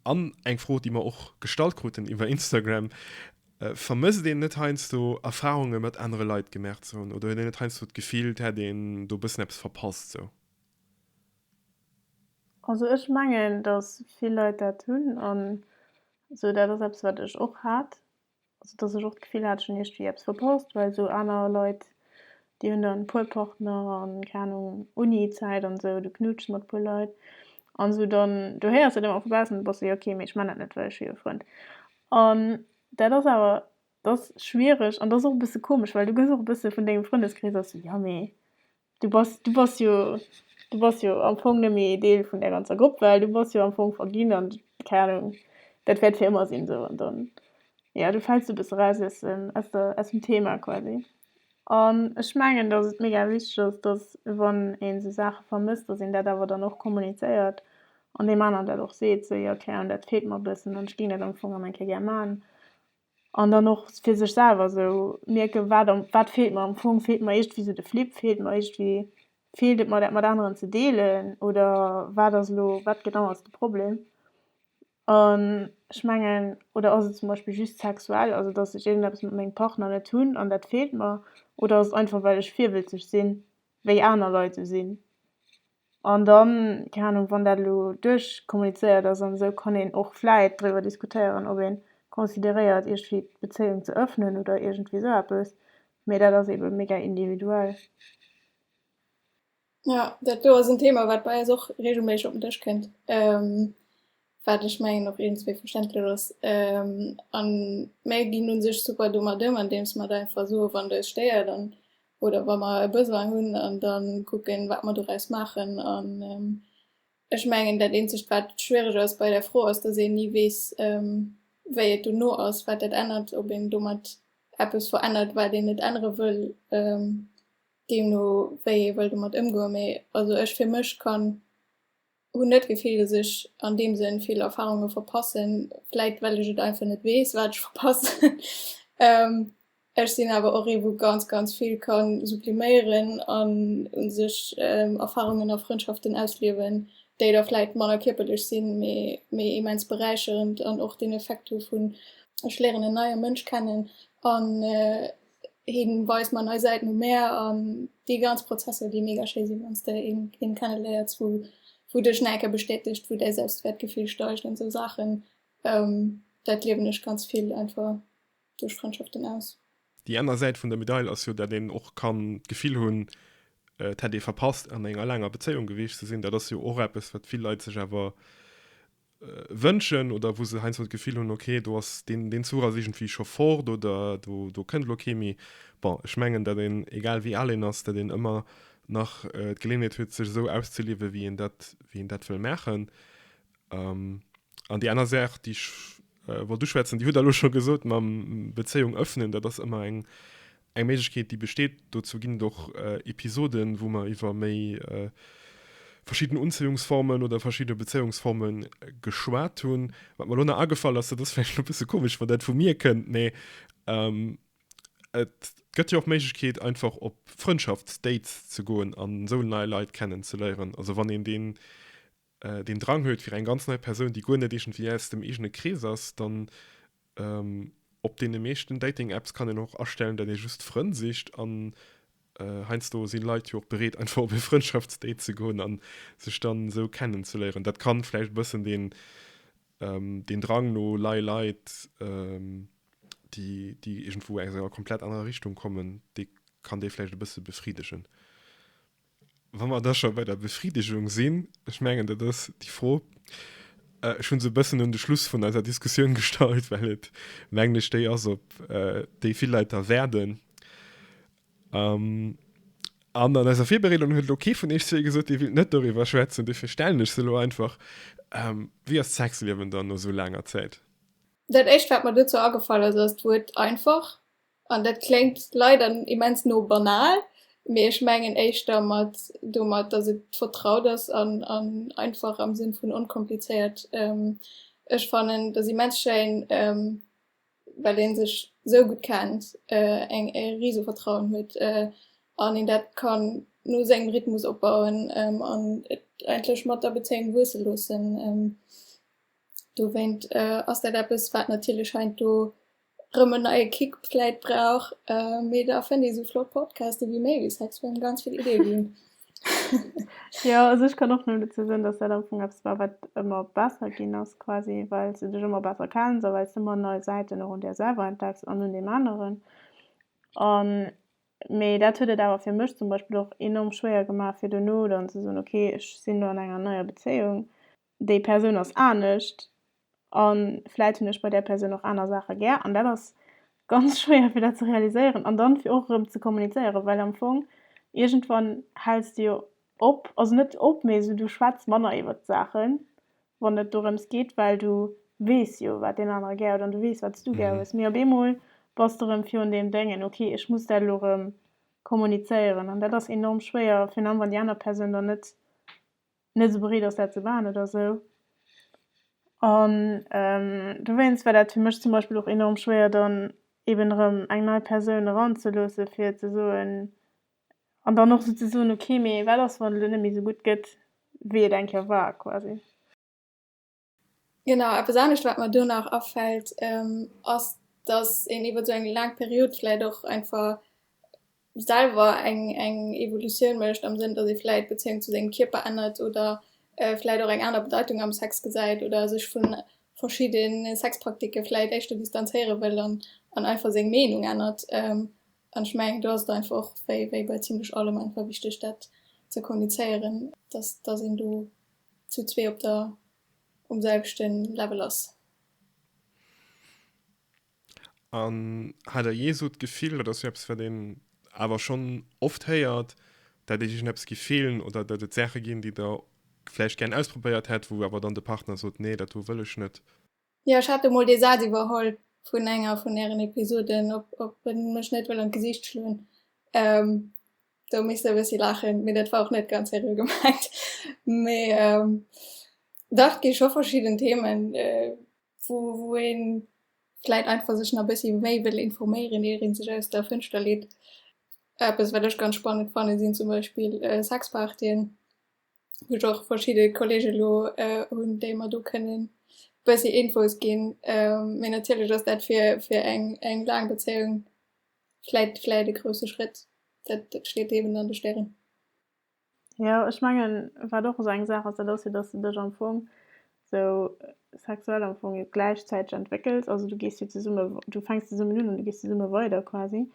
An eng Fro, déi mer och gestallt kruten iwwer Instagram, Vermësst een net heiansdo Erfarunge mat anere Leit gemaach ze hunn oder huet een net heiansdo d'Gefill, et hätt een do e bëssen eppes verpasst sou? Also ech mengen, datt vill Leit dat hunn an sou. Dat ass eppes, wat ech och hat. Also dass ech och d'Gefill hat ech hunn iergendwéi eppes verpasst, well esou aner Leit déi hunn dann e puer Partner an keng Ahnung Uni-Zäit an esou, du knutschs mat e puer Leit an esou dann du héiers dat ëmmer vu baussen, du bass esou jo ok mee ech man dat net well ech hu jo Frënn an dat ass awer dat ass schwiereg an dat ass och e bësse komesch well du gëss och e bësse vun dengem Frëndeskrees ass esou jo mee Du bass, du bass jo, du bass jo am Fong nëmme ee Deel vun där ganzer Grupp, well du bass jo am Fong verginn an, keng Ahnung, dat wäert fir ëmmer sinn, esou. An dann, jo, du fäls e bësse eraus aus dem, aus der, aus dem Thema quasi. An ech mengen, datt et mega wichteg ass, datt wann een esou Saache vermësst, datt een dat awer dann och kommunizéiert an deem aneren dat och seet, sou, jo, keng Ahnung, dat feelt mer e bëssen an ech géing dat am Fong nach eng Kéier gär maachen. An dann och fir sech selwer esou mierken, wat am, wat feelt mer am Fong? Feelt mer iergendwéi esou de Flipp? Feelt mer iergendwéi, feelt et mer dat mat aneren ze deelen? Oder wat ass elo, wat genau ass de Problem? An ech mengen, oder ass et zum Beispill just sexuell, also datt ech iergendeppes mat mengem Partner net hunn an dat feelt mer? Oder ass et einfach well ech virwëlzeg sinn, wéi aner Leit esou sinn? An dann, keng Ahnung, wann dat elo duerchkommunizéiert ass an esou, kann een och vläit driwwer diskutéieren, ob ee consideréiert, iergdwéi d'Bezéiung ze ëffnen oder iergendwéi esou eppes. Mee dat ass eebe mega individuell. Jo, dat do ass en Thema, wat bei eis och reegelméisseg op den Dësch kënnt. wat ech mengen och iergendswéi verständlech ass, a mär ginn u sech super domat ëm, andeems mer et einfach soe wann et eis stéiert an oder wa mer e Besoin hunn an da kucke wat mer doraus maachen. An ech mengen dat eenzegt wat schwiereg ass bei där Fro ass, datt een ni weess wéi et dono ass, wat dat ännert, ob een domat eppes verännert wat een net ännere wëll, deemno wéi ee wëll domat ëmgoen. Mee also ech fir mech kann Hunn net d'Gefill, dass ech an deem Sënn vill Erfarunge verpassen, vläit well ech et einfach net weess, wat ech verpassen. Ech sinn awer och ee wou ganz ganz vill ka subliméieren an u sech Erfarungen a Frëndschaften ausliewen, déi da vläit manner kierperlech sinn, mee mee immens beräicherend an och den Effekt hu vun ech léieren en neie Mënsch kennen an Hien weist mer nei Säiten um Meer an déi ganz Prozesser, déi mega schéi sinn, wann s de een kenneléiers, wou wou dech nach eng Kéier bestätegt, wou däi Selbstwäertgefill steigt an esou Saachen. Dat liewen ech ganz vill einfach duerch Frëndschaften aus. Déi aner Säit vun der Medail ass jo, dat een och kann d'Gefill hunn, et hätt ee verpasst an enger laanger Bezéiung gewiescht ze sinn. Dat ass jo och eppes, wat vill Leit sech awer wënschen oder wou se heiansdo d'Gefill hunn, okay, do ass deen, deen Zuch ass iergendwéi scho fort oder do, do kënnt elo kee méi. Bon, ech mengen, datt een, egal wéi al een ass, datt een ëmmer nach d'Geleeënheet huet, sech esou auszeliewen, wéi een dat, wéi een dat wëll maachen. An déi aner Saach, déi ech wollt uschwätzen, déi hutt Der elo scho gesot mam Bezéiung ëffnen. Dat ass ëmmer eng, Eng Méiglechkeet, déi besteet, dozou ginn et och Episoden, wou mer iwwer méi verschidden Unzéiungsformen oder verschidde Bezéiungsforme geschwat hunn. Wat mer elo nach agefall ass, dat ass vläicht elo e bësse komesch, wann dat vu mir kënnt, mee et gëtt jo och d'Méiglechkeet, einfach op Frëndschaftsdates ze goen an esou nei Leit kennenzeléieren. Also wann een deen deen Drang huet fir eng ganz nei Persoun, déi guer net iergendwéi aus dem eegene Krees ass, dann op deene meeschten Dating-Apps kann een och astellen, datt ee just Frënn sicht an heiansdo si Leit jo och bereet einfach op e Frëndschaftsdate ze goen a sech dann esou kennen ze léieren. Dat kann vläicht e bëssen deen Drang no nei Leit, déi iergendwou aus enger komplett anerer Richtung kommen, dee kann dee vläicht e bësse befriddegen. Wa mer da scho bei der Befridegung sinn, ech mengen, dat ass déi Fro, ech hu se e bëssen un de Schluss vun eiser Diskussioun gestallt, well et, mengen ech, déi ass, op déi vill Leit da wäerten. An an eiser Virbereedung huet elo kee vun iech zwee gesot, dee wéilt net doriwwer schwätzen. Dofir stellen ech se elo einfach, Wéi ass d'Sexliewen dann no esou laanger Zäit? Dat Éischt, wat mer dozou agefall ass, ass d'Wuert einfach. An dat kléngt leider immens no banal, mee ech mengen éischter mat domat, dass et vertraut ass an einfach am Sënn vun onkomplizéiert. Ech fannen dass immens schéin, well ee sech esou gutt kennt, een e rise Vertrauen huet an een dat kann no sengem Rhythmus opbauen an et eigentlech mat der Bezéiung wuesse loossen. Dowéint ass dat eppes, wat natierlech heiansdo Rem en neie Kick vläit brauch, mee da fënnt ee sou flott Podcaste wéi méi wéi Sex Friend ganz vill Idee ginn. Jo, also ech kann och nëmmen dozou soen, dass dat am Fong eppes war, wat ëmmer besser ginn ass quasi, well s de dech ëmmer besser kenns a well s de ëmmer nei Säiten och un där selwer entdecks an un deem aneren. An, mee dat huet et awer fir mech zum Beispill och enorm schwéier gemaach, fir duerno dann ze soen, okay, ech sinn elo an enger neier Bezéiung, déi Persoun ass anescht an vläit hunn ech bei där Persoun och aner Saache gär an dat ass ganz schwéier fir dat ze realiséieren an dann fir och erëm ze kommunizéieren, well am Fong iergendwann häls de jo op, also net op, mee esou du schwätz manner iwwert d'Saachen wann et dorëms geet, well du weess jo wat deen anere gär huet an du weess wat s du gär hues, mee op eemol bass de erëm virun deem Dengen, ok ech muss dat elo erëm kommunizéieren an dat ass enorm schwéier, virun allem wann déi aner Persoun dann net. net esou bereet ass, dat ze maachen oder esou. An dowéinst war dat fir mech zum Beispill och enorm schwéier, dann eben erëm eng nei Persoun eranzeloosse fir ze soen, an dann och esou ze soen, ok, mee wat ass, wann et elo net méi esou gutt gëtt, wéi et eng Kéier war quasi. Genau, eppes anescht wat mer do nach afält ass, datt een iwwer esou eng laang Period vläicht och einfach selwer eng Evolutioun mécht am Sënn, datt ee vläicht d'Bezéiung zu sengem Kierper ännert oder vläicht och eng aner Bedeitung am Sex gesäit oder sech vu verschidde Sexpraktike vläicht éischter distanzéiere wëll an einfach seng Meenung ännert. An ech mengen do ass et einfach och wéi bei zimmlech allem einfach wichteg dat ze kommunizéieren, datt een do. zu zwee op der um selwechten Level ass. An hat der jee sou d'Gefill, dat ass jo eppes wat een awer schonn oft héiert, dat dir iergendeppes giff feelen oder dat et Saache ginn déi der vläicht gären ausprobéiert hätt, wou awer dann de Partner sot, nee dat do wëll ech net? Jo, ech hat emol dee Saz iwwerholl vun enger vun ären Episoden, ob ob en mech net wëll an d'Gesiicht schloen. Do misst e bëssi laachen, mee dat war och net ganz seriö gemengt. Mee dach, et gi scho verschidden Themen, wou wou ee vläit einfach sech nach e bëssi méi wëll informéieren, ier ee sech aus der Fënschter leet. Eppes, wat ech ganz spannend fanne sinn zum Beispill Sexpartyen. Hu ech och verschidde Kollege lo hunn, déi mer do kënnen e bëssi Infos ginn. Mee natierlech ass dat fir fir eng eng laang Bezéiung vläit vläit e grousse Schrétt. Dat dat steet eben an de Stären. Jo, ech mengen, wat och esou eng Saach ass, dat ass jo, datt s de dech am Fong esou sexuell am Fong jo gläichzäiteg entwéckels. Also du gees jo zesumme, du fänks zesummen un an du gees zesumme weider quasi.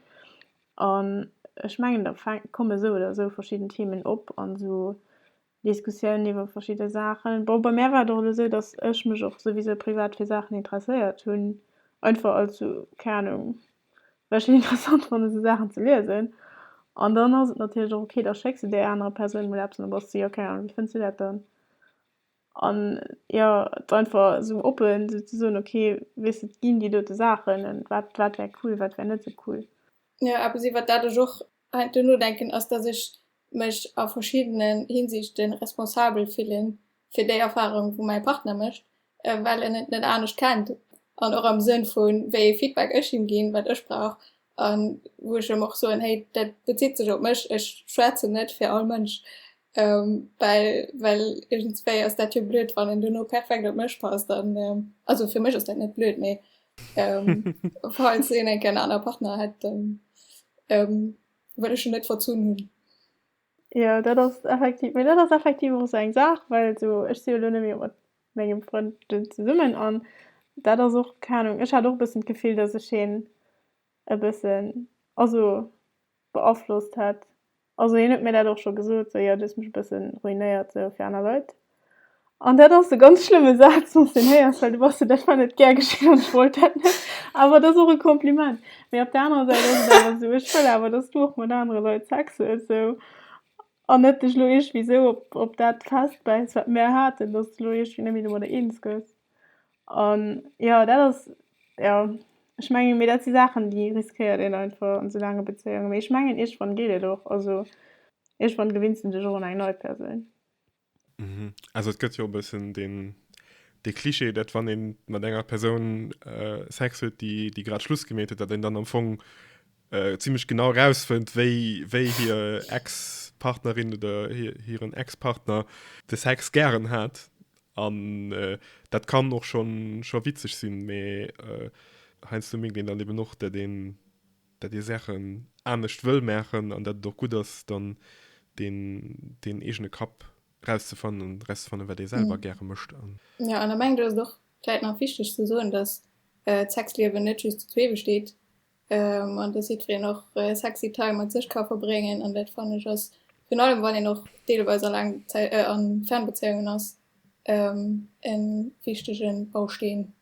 An ech mengen, da fänk, kommen esou oder esou verschidden Themen op an esou Diskussiounen iwwer verschidde Saachen. Bon, bei mär war et och elo esou, dass ech mech och souwisou privat fir Saachen interesséiert hunn, einfach als esou, keng Ahnung, well ech et interessant fannen, esou Saachen ze liesen. An dann ass et natierlech och ok, da schécks de där anerer Persoun emol eppes an da bass de, jo, keng Ahnung, wéi fënns de dat dann? An jo, et einfach esou oppen esou ze soen, ok, weess et ginn déi dote Saachen an wat wat wär cool, wat wär net esou cool. Jo, eppes iwwert dat ech och hei duerno denken ass, dass ech mech a verschiddenen Hinsichte responsabel fillen fir déi Erfahrung wou mäi Partner mécht, well en et net anescht kennt an och am Sënn vun wéi ee Feedback ech him ginn, wat ech brauch An wou ech ëm och soen, hey, dat bezitt sech op mech, ech schwätzen net fir all Mënsch, well well iergendswéi ass dat jo blöd, wann en duerno perfekt op mech passt. An also fir mech ass dat net blöd, mee falls een eng Kéier en anere Partner hätt, dann wëll ech en net verzunn hunn. Jo, dat ass effektiv, mee dat ass effektiv och esou eng Saach, well esou ech si jo elo net méi op mengem Frënd den zesummen an dat ass och keine Ahnung ech hat och e bëssen d'Gefill dass ech hien e bëssen also beaflosst hätt also hien huet mir dat och scho gesot sou jo du hues mech e bëssen ruinéiert sou fir aner Leit an dat ass e ganz schlëmme Saz wanns deen héiers well du bass jo dat war net gär geschéin an ech wollt dat net awer et ass och e Kompliment mee op der anerer Säit ass et awer sou ech wëll awer dass du och mat anere Leit Sex hues sou. An net dech lo iergwéi sou op dat festbäiss wat mär haten, dass de lo iergwéi net méi domadder eens gëss. An jo dat ass jo, ech mengen, mee dat si Saachen déi riskéiert een einfach an sou laange Bezéiungen. Mee ech mengen iergendwann geet et och, also iergendwann gewinns de dech och un eng nei Persoun. Also et gëtt jo e bëssen dee Cliché, dat wann ee mat enger Persoun Sex huet, déi grad Schluss gemeet huet, dat een dann am Fong äh, ziemlech genau rausfënnt, wéi, wéi hier Ex-Partnerin oder hiren Ex-Partner de Sex gären hat. An äh, dat kann och schon, schon witzeg sinn, mee äh, heinsdo mégt een dann eben och, dat een, dat ee Sachen anescht wëll maachen an dat et och gutt ass, dann deen, deen eegene Kapp rauszefannen an rauszefannen, wat ee selwer mm. gäre mécht. Ja, an da mengt et ass och vläit nach wichteg ze soen, dass äh, d'Sexliewen net just zu zwee besteet, An dass jiddwereen och sexy Time mat sech ka verbréngen an dat fannen ech ass virun allem wann een och deelweis a laang Zäi a Fernbezéiungen ass e wichtege Bausteen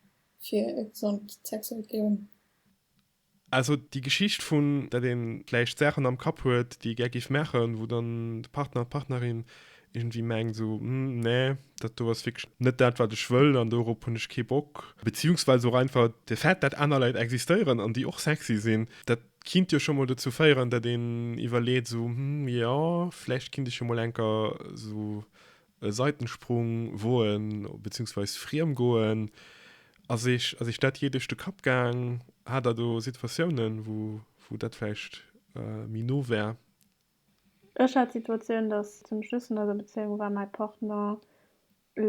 fir e gesond sexuellt Liewen. Also déi Geschicht vun dat een vläicht Saachen am Kapp huet déi ee gär géif maachen, wou dann de Partner, d'Partnerin Irgendwie mengt so, hm, nee, dat do ass wierklech net dat, wat ech wëll an dorop hunn ech kee Bock. Beziehungsweise och einfach de Fait, dat aner Leit existéieren an déi och sexy sinn, dat kinnt jo scho mol dozou féieren, dat een iwwerleet so, hm, jo, vläicht kinnt ech jo mol enker esou e Seitensprung woen, beziehungsweise friem goen. Ass eech, ass eech dat jee duerch de Kapp gaang? Hat der do Situatiounen, wou, wou dat vläicht méi no war? Ech hat d'Situatioun, datt zum Schluss vun eiser Bezéiung war mäi Partner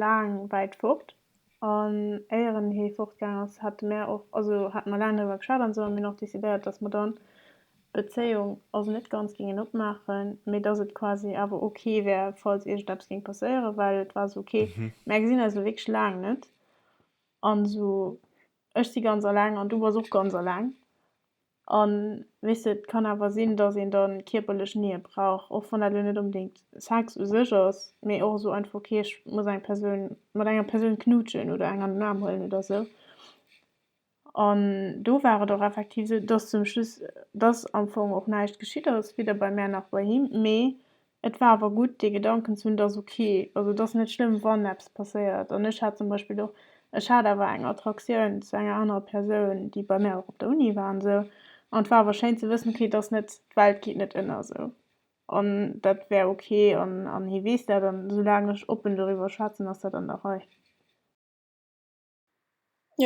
laang wäit fort. An éier en hee fortgaang ass, hate mir och, also hate mer laang driwwer geschwat an esou an mir hunn och decidéiert, datt mer dann d'Bezéiung, also net ganz géingen opmaachen, mee datt et quasi awer ok wär, falls iergendeppes géing passéieren, well et war esou ok, mär gesinn eis elo wierklech laang net an esou ech si ganz alleng an du bass och ganz alleng A wéisst et kann awer sinn, dass een da kierperlech Nähe brauch, och wann dat elo net onbedéngt Sex u sech ass, mee och esou einfach, okay, ech muss eng Persoun, mat enger Persoun knutschen oder eng an den Aarm huelen oder esou. An do war et och effektiv esou, dass zum Schluss, dass am Fong och näischt geschitt ass, weder bei mär nach bei him, mee Et war awer gutt dee Gedanken ze hunn, et ass ok, also et ass net schlëmm wann eppes passéiert. An ech hat zum Beispill och, ech hat awer eng Attraktioun zu enger anerer Persoun, déi bei mär och op der Uni war an esou, an et war awer schéin ze wëssen, ok et ass net, d'Welt geet net ënner esou an dat wär ok an an hie weess dat an esoulaang ech oppen doriwwer schwätzen, ass dat an der Rei.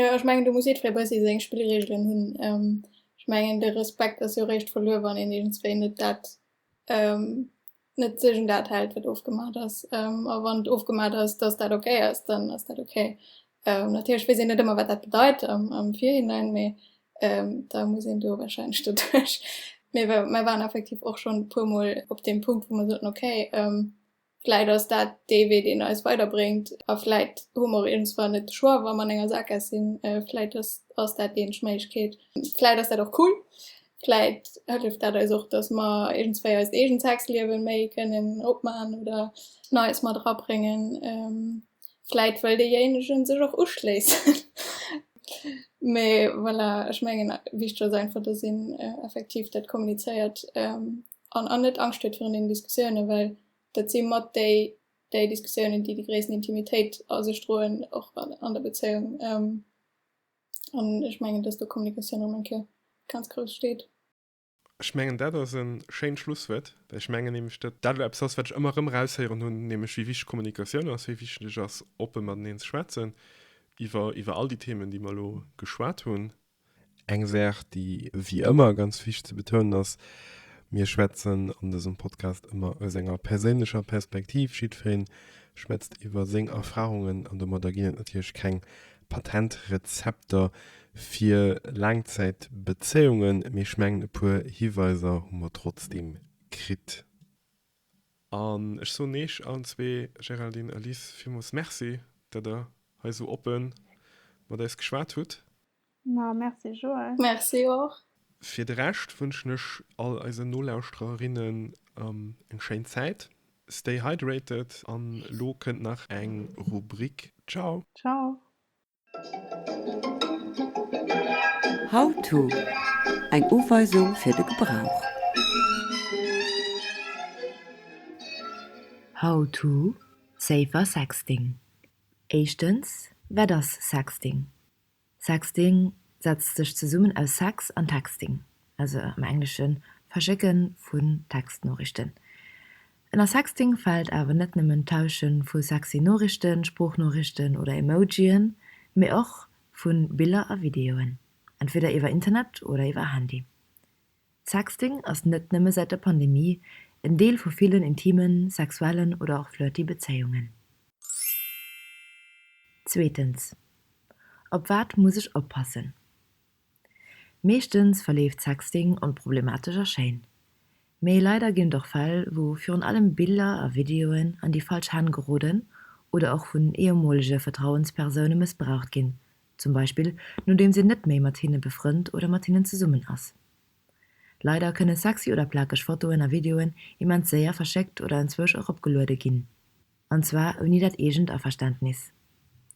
Ech mengen do muss jiddweree bei sech seng Spillregelen hunn. Ech mengen de Respekt ass jo eréischt verluer wann een iergendwéi net dat net sech un dat hält wat ofgemaach ass. A wann et ofgemaach ass datt dat ok ass, dann ass dat ok. Natierlech weess een net ëmmer wat dat bedeit am Virhinein mee da muss een do warscheinlech doduerch. Mee mir waren effektiv och schonn e puermol op deem Punkt wou mer soten ok Vläit ass dat dee Wee deen eis weiderbréngt a vläit hu mer iergendwann net de Choix wa mer an enger Sackgaass sinn. Vläit ass dat déi eenzeg Méiglechkeet. Vläit ass dat och cool. Vläit hëlleft dat eis och, datt mer iergendswéi eist eegent Sexliewe méi kënnen opman oder Neies mat erabréngen. Vläit wëll deejéinegen sech och uschléissen. Mee voilà, ech mengen wichteg ass einfach, datt een effektiv dat kommunizéiert An an net Angscht huet virun deenen Diskussiounen, well dat si mat déi déi Diskussiounen, déi déi gréissten Intimitéit a sech droen, och an der Bezéiung. An ech mengen, dass do d'Kommunikatioun erëm eng Kéier ganz grouss steet. Ech mengen, dat ass e schéint Schlusswuert, well ech mengen nämlech, datt dat elo eppes ass, wat ech ëmmer erëm raushéieren hunn, nämlech wéi wichteg d'Kommunikatioun ass, wéi wichteg et ass, oppe mateneen ze schwätzen iwwer, iwwer all déi Themen, déi mer elo geschwat hunn. Eng Saach, déi wéi ëmmer ganz wichteg ze betounen ass, Mir schwätzen an dësem Podcast ëmmer aus enger perséinlecher Perspektiv. Jiddweree schwätzt iwwer seng Erfarungen an domadder ginn et natierlech keng Patentrezepter fir Laangzäitbezéiungen, mee ech mengen e puer Hiweiser hu mer trotzdeem kritt. An ech soen eech allen zwee, Géraldine a Liz, villmools Merci, dat der hei esou oppe mat eis geschwat hutt. Ma Merci Joël. Merci och. Fir de Rescht wënschen ech all eisen Nolauschtererinnen eng schéin Zäit. Stay hydrated an elo kënnt nach eng Rubrik. Ciao. Ciao. How to, Eng Uweisung fir de Gebrauch. How to, Safer Sexting Éischtens, Wat ass Sexting? Sexting setzt sech zesummen aus Sex an Texting. also am Englesche Verschécke vu Textnoriichten. Ënner Sexting fält awer net nëmmen d'Tausche vu sexy Noriichten, Sproochnoriichten oder Emojien, mee och vu Biller a Videoen, entweder iwwer Internet oder iwwer Handy. Sexting ass net nëmme säit der Pandemie en Deel vu villen intimen, sexuellen oder och flirty Bezéiungen. Zweetens, Op wat muss ech oppassen? Meeschtens verleeft Sexting onproblematesch a schéin. Mee leider ginn et och Fäll, wou virun allem Biller a Videoen an déi falsch Hänn geroden oder och vun ehemolege Vertrauenspersoune mëssbraucht ginn, zum Beispill nodeems een net méi mat hinne befrënnt oder mat hinnen zesummen ass. Leider kënne sexy oder plakeg Fotoen a Videoen immens séier verschéckt oder enzwousch och opgeluede ginn. an zwar ouni dat eegent Averständnis.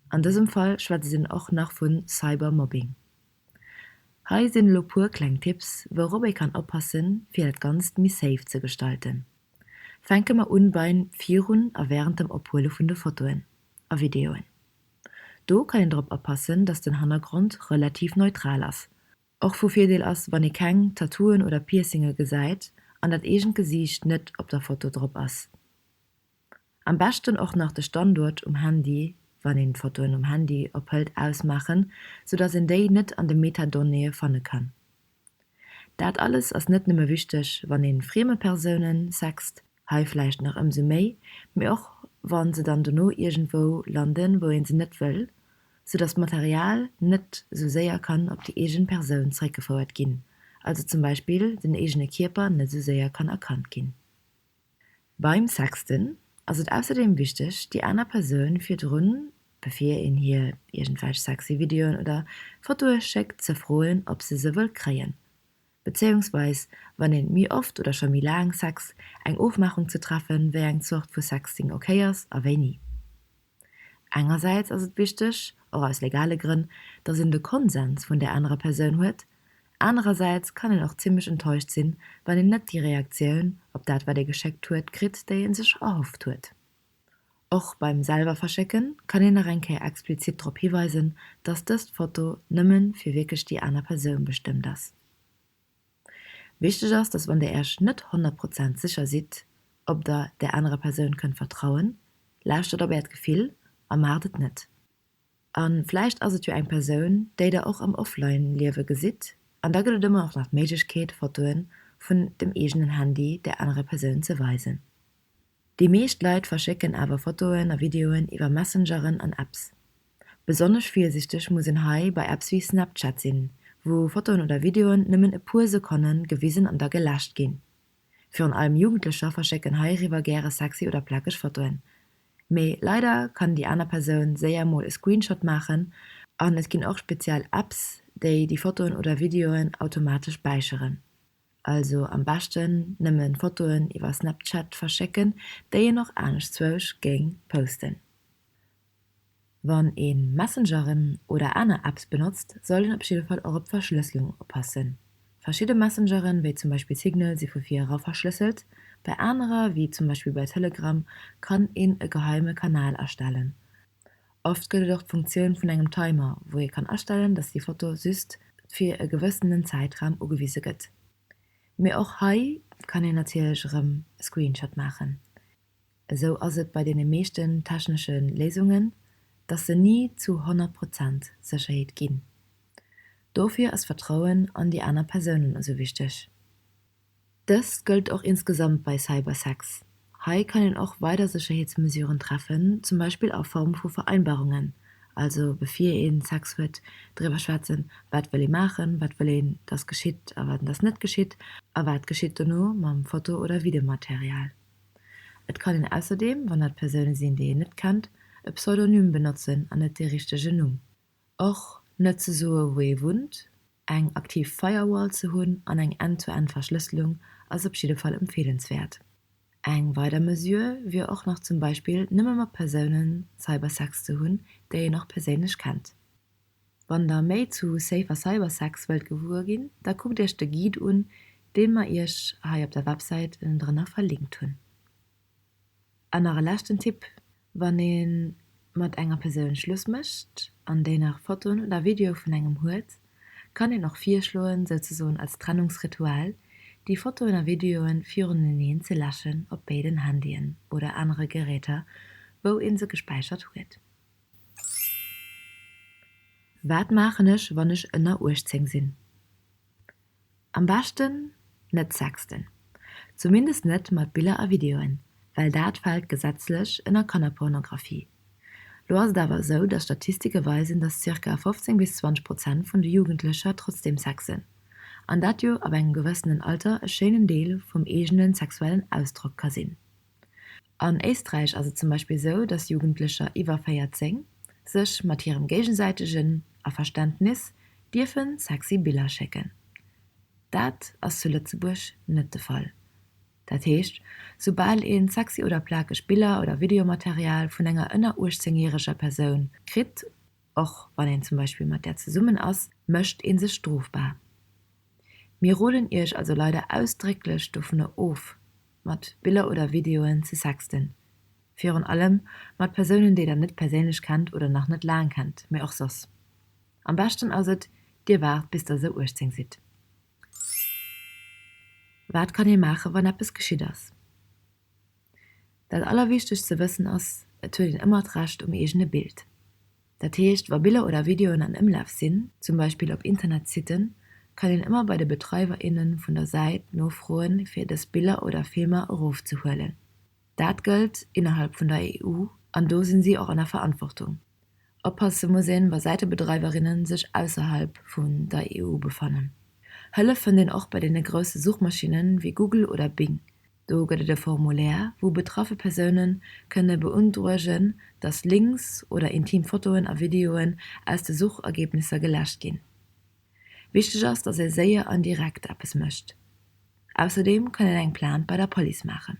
An dësem Fall schwätze sinn och nach vu Cybermobbing. Hei sinn elo puer kleng Tipps, wourop ee kann oppassen, fir dat Ganzt méi safe ze gestalten. Fänke mer un beim virun a während dem Ophuele vun de Fotoen a Videoen. Do kann een drop oppassen, dass den Hannergrond relativ neutral ass. Och vu Virdeel ass, wann ee keng Tattooen oder Piercinge gesäit an dat eegent Gesiicht net op der Foto drop ass. Am beschten och nach de Standuert um Handy, wann een d'Fotoen um Handy ophëlt, ausmaachen, sou dass een déi net an de Metadonnéeë fanne kann. Dat alles ass net nëmme wichteg, wann een frieme Persounen sext, hei vläicht nach ëmsou méi, mee och wa se dann dono iergendwou landen, wou ee se net wëll, sou dass d'Material net sou séier kann op déi eegen Persoun zréckgefouert ginn, also zum Beispill den eegene Kierper net sou séier kann erkannt ginn. Beim Sexten ass et ausserdeem wichteg, déi aner Persoun virdrun, bevir een hir iergendwelch sexy Videoen oder Fotoe schéckt, ze froen, ob se se wëll kréien. Bezéiungsweis wann een méi oft oder scho méi laang Sex, eng Ofmaachung ze treffen, wéi eng Zort vu Sexting ok ass a wéini. Engersäits ass et wichteg, och aus legale Grënn, datt een de Konsens vun där anerer Persoun huet, anerersäits kann een och zimmlech enttäuscht sinn, wann een net déi Reaktioun op dat, wat ee geschéckt huet, kritt, déi ee sech erhofft huet. Och beim selwer verschécke kann een nach eng Kéier explizit drop hiweisen, datt dëst Foto nëmme fir wierklech déi aner Persoun bestëmmt ass. Wichteg ass, dass wann Dir Iech net 100 Prozent sécher sidd, ob Der där anerer Persoun kënnt vertrauen, lauschtert op Äert Gefill a maacht et net. A vläicht ass et jo eng Persoun, déi Der och am Offline-Liewe gesitt, an da gëtt et ëmmer och nach d'Méiglechkeet, Fotoe vun dem eegenen Handy där anerer Persoun ze weisen. Déi meescht Leit verschécken awer Fotoen a Videoen iwwer Messengeren an Apps. Besonnesch virsichteg muss een hei bei Apps wéi Snapchat sinn, wou Fotoen oder Videoen nëmmen e puer Sekonne gewisen an da geläscht ginn. Virun allem Jugendlecher verschécken heiriwwer gäre sexy oder plakeg Fotoen. Mee leider kann déi aner Persoun séier mol e Screenshot maachen an et ginn och speziell Apps, déi déi Fotoen oder Videoen automatesch späicheren. Also am beschten nëmmen Fotoen iwwer Snapchat verschécken, déi een och aneschtswousch géing posten. Wann een Messengeren oder aner Apps benotzt, sollt een op jidde Fall och op d'Verschlësslung oppassen. Verschidde Messengeren, wéi zum Beispill Signal, si vu vir era verschlësselt. Bei anerer, wéi zum Beispill bei Telegram, kann een e geheime Kanal erstellen. Oft gëtt et och d'Funktioun vun engem Timer, wou ee kann astellen, dass déi Foto just fir e gewëssenen Zäitraum ugewise gëtt. Mee och hei kann een natierlech erëm e Screenshot maachen. Esou ass et bei deene meeschten technesche Léisungen, dass se ni zu 100 Prozent Sécherheet ginn. Dofir ass d'Vertrauen an déi aner Persounen esou wichteg. Dëst gëllt och insgesamt bei Cybersex. Hei kann een och weider Sécherheetsmesuren treffen, zum Beispill a Form vu Vereinbarungen, also bevir ee Sex huet, driwwer schwätzen, wat wëll ee maachen, wat wëll een, dass geschitt a wat een, dass net geschitt a wat geschitt dono mam Foto oder Videomaterial. Et kann een ausserdeem, wann dat Persoune sinn, déi een net kennt, e Pseudonym benotzen an net dee richtegen Numm. Och net ze soe wou ee wunnt. Eng aktiv Firewall ze hunn an eng End-to-End Verschlësselung ass op jidde Fall empfeelenswäert. Eng weider Mesure wier och nach zum Beispill nëmme mat Persounen Cybersex ze hunn, déi een och perséinlech kennt. Wann der méi zu safer Cybersex wëllt gewuer ginn, da kuckt iech de Guide un, deen mer iech hei op der Websäit drënner verlinkt hunn. An nach e leschten Tipp, Wann ee mat enger Persoun Schluss mécht an déi nach Fotoen oder Videoe vun engem huet, kann een och virschloen, souzesoen als Trennungsritual, déi Fotoen a Videoe viruneneen ze läschen op béiden Handyen oder anere Geräter, wou ee se gespäichert huet. Wat maachen ech, wann ech ënner 18 sinn? Am beschten net sexten, zumindest net mat Biller a Videoen, well dat fält gesetzlech ënner Kannerpornographie. Lo ass et awer esou, dass Statistike weisen, dass zirka 15 bis 20 Prozent vun de Jugendlecher trotzdeem sexen, an dat jo ab engem gewëssenen Alter e schéinen Deel vum eegene sexuellen Ausdrock ka sinn. An Éisträich ass et zum Beispill esou, dass Jugendlecher iwwer 14 sech mat hirem géigesäitegen Averständnis dierfen sexy Biller schécken. Dat ass zu Lëtzebuerg net de Fall. Dat heescht, soubal ee sexy oder plakeg Biller oder Videomaterial vun enger ënner 18 järeger Persoun kritt, Och wann een zum Beispill mat där zesummen ass, mécht ee sech strofbar. Mir roden Iech also leider ausdrécklech dovunner of, mat Biller oder Videoen ze sexten. Virun allem mat Persounen, déi Der net perséinlech kennt oder nach net laang kennt, mee och soss. Am beschten ass et, Dir waart bis Der esou 18 sidd. Wat kann ee maachen, wann eppes geschitt ass? Dat allerwichtegst ze wëssen ass, et huet een ëmmer d'Recht um eegene Bild. Dat heescht, wa Biller oder Videoen an Ëmlaf sinn, zum Beispill op Internetsitten, kann een ëmmer bei de Betreiwer, inne vun der Säit nofroen, fir dës Biller oder Filmer erofzehuelen. Dat gëllt innerhalb vun der EU an do si si och an der Verantwortung. Oppasse muss een, wa Säitebedreiwerinne sech ausserhalb vun der EU befannen. Hëllef fënnt een och bei deene grousse Suchmaschinnen, wéi Google oder Bing. Do gëtt et e Formulaire, wou betraffe Persoune kënne beundroegen, datt Links oder intim Fotoen a Videoen aus de Suchergebnisser geläscht ginn. Wichteg ass, datt ee séier an direkt eppes mécht. Ausserdeem kann een eng Plainte bei der Police maachen.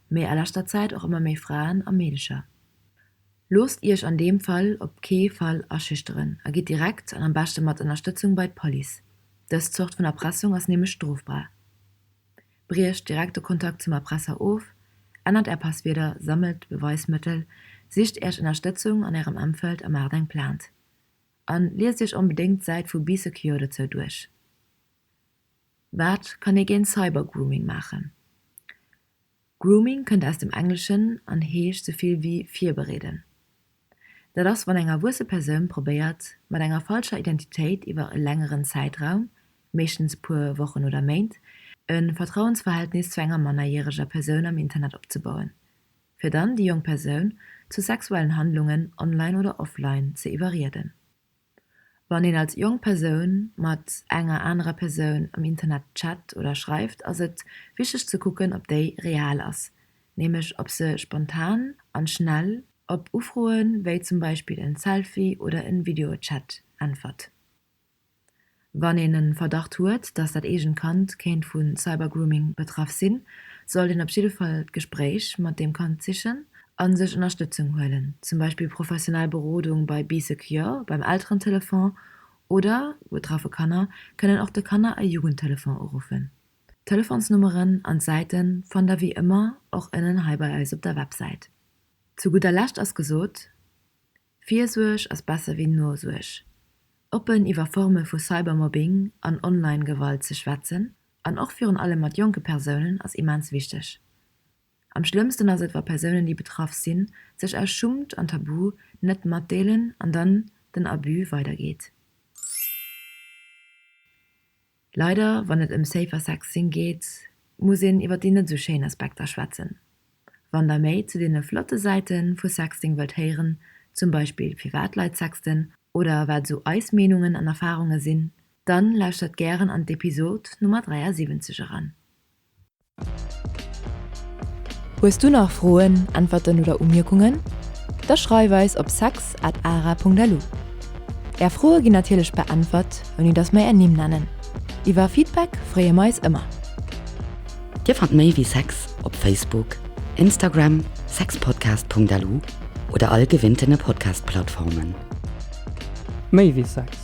mee a leschter Zäit och ëmmer méi Fraen a Meedecher. Loosst Iech an deem Fall op kee Fall aschüchteren a gitt direkt an am beschte mat Ënnerstëtzung bei d'Police. Dës Zort vun Erpressung ass nämlech strofbar. Briecht direkt de Kontakt zum Erpresser of, ännert Är Passwierder, sammelt Beweismëttel, sicht Iech Ënnerstëtzung an Ärem Emfeld a maacht eng Plainte. An liest Iech onbedéngt d'Säit vu Be Secure dozou duerch. Wat kann ee géint Cybergrooming maachen? Grooming kënnt aus dem Engleschen an heescht sou vill wéi virbereeden. Dat ass wann eng erwuesse Persoun probéiert mat enger falscher Identitéit iwwer e längeren Zäitraum, meeschtens puer Wochen oder Méint, e Vertrauensverhältnis zu enger mannerjäreger Persoun am Internet opzebauen, fir dann déi jonk Persoun zu sexuellen Handlungen online oder offline ze iwwerrieden. Wann een als jonk Persoun mat enger anerer Persoun am Internet chat oder schreift, ass et wichteg ze kucken, ob déi real ass, nämlech ob se spontan an schnell op Ufroen, wéi zum Beispill en Selfie oder en Videochat, äntwert. Wann een en Verdacht huet, dass dat eegent Kand kéint vun Cybergrooming betraff sinn, sollt een op jidde Fall d'Gespréich mat deem Kand sichen an sech Ënnerstëtzung huelen, zum Beispill professionell Berodung bei BeeSecure, beim Elterentelefon oder, betraffe Kanner kënnen och de Kanner a Jugendtelefon uruffen. D'Telefonsnummeren an d'Säiten fannt der wéi ëmmer och ënnen hei bei eis op der Websäit. Zu gudder Lescht ass gesot, Virsuerg ass besser wéi Nosuerg. Oppen iwwer Forme vu Cybermobbing an Online-Gewalt ze schwätzen an och virun allem mat jonke Persounen ass immens wichteg. Am schlëmmsten ass et, wa Persounen, déi betraff sinn, sech aus Schummt an Tabu net matdeelen an dann den Abus weidergeet. Leider, wann et ëm safer Sex sinn geet, muss een iwwer déi net esou schéin Aspekter schwätzen. Wann der méi zu deene flotte Säiten vu Sexting wëllt héieren, zum Beispill firwat Leit sexten oder wat esou eis Meenungen an Erfahrungen sinn, dann lauschtert gären an d'Episode Nummer 73 eran. Hues du nach Froen, Äntwerten oder Umierkungen? Da schreif eis op sex at ara.lu. Är Froe ginn natierlech beäntwert, ouni dass mer är Nimm nennen. Iwwer Feedback freeë mer eis ëmmer. Dir fannt méi wéi sex op Facebook, Instagram, sexpodcast.lu oder all gewinnten Podcast-Plattformen. Méi wéi sex.